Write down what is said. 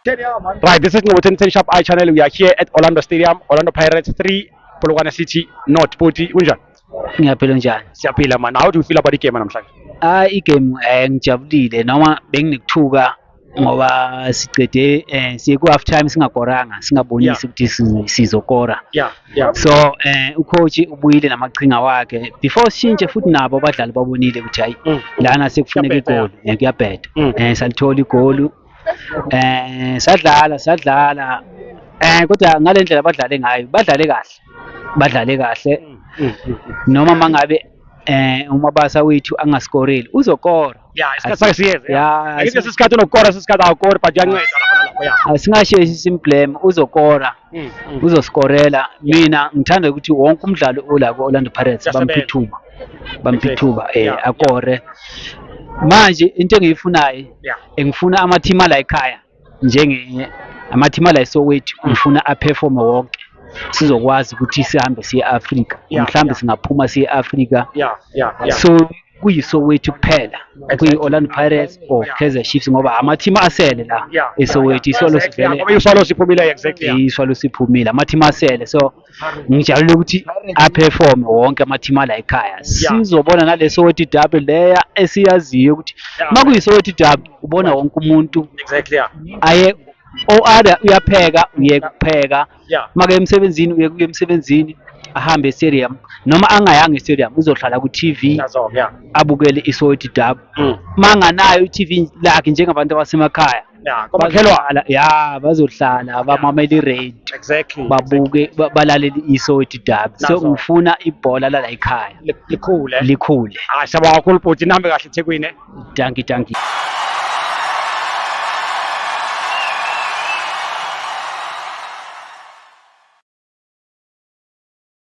Right, this is Ngobotheni 10 Sharp Eye Channel. We are here at Orlando Stadium, Orlando Pirates 3, Polokwane City North. Bhuti, unjani? ngiyaphila njani Siyaphila man. How do you feel about the game namhlanje? hayi igame um ngijabulile noma benginekuthuka ngoba siqede eh siye ku half time singakoranga singabonisi ukuthi sizokora yeah yeah so eh ucoach ubuyile namaqhinga wakhe before sishintshe futhi nabo abadlali babonile ukuthi hayi mm. lana sekufuneka igoli eh, kuyabheda mm. eh salithola igoli eh sadlala sadlala eh kodwa ngalendlela abadlale ngayo badlale kahle badlale kahle mm, noma mangabe eh umabasa wethu angaskoreli uzokora ya isikhathi sakhe siyeze ya Angithi sesikhathi unokukora sesikhathi awukori but uyanceda lapha nalapha ya ah, singasheshi simblame uzokora Mm, mm. uzoskorela mina ngithanda ukuthi wonke umdlalo ola ku-orlando pirates Uyasebenza. bamphithuba bamphithuba um Yeah, akore manje into engiyifunayo yeah engifuna amathimu ala ekhaya njenge amathima ala eSoweto ngifuna aperforme wonke sizokwazi ukuthi sihambe siye e-Afrika Yeah, mhlawumbe yeah. singaphuma siye e-Afrika Yeah, yeah, yeah. so kuyiSoweto kuphela kuyi-Orlando Pirates or Yeah. Kaizer Chiefs ngoba amathima asele la Yeah, eSoweto yeah. isolo Exactly, yeah, ngoba sivele iSwallows iphumile exactly. yeah. iswalo siphumile amathima asele so ngijabulile ukuthi aperforme wonke amathimu ala ekhaya sizobona nale Soweto derby leya esiyaziyo ukuthi uma kuyiSoweto derby ubona wonke umuntu exactly yeah aye oada uyapheka uye kupheka make emsebenzini uye kuye emsebenzini ahambe estadium noma angayanga estadium uzohlala ku-tv abukele iSoweto derby uma mm. anganayo i-tv lakhe njengabantu abasemakhaya ya komakhelwane Bazohlala- ya bazohlala bamamele i-rain exactly babuke ba- balalele isoti dabi so Nazo. ngifuna ibhola lala ekhaya Li- likhule likhule hayi siyabonga kakhulu bhuti nihambe kahle ethekwini eh? danki danki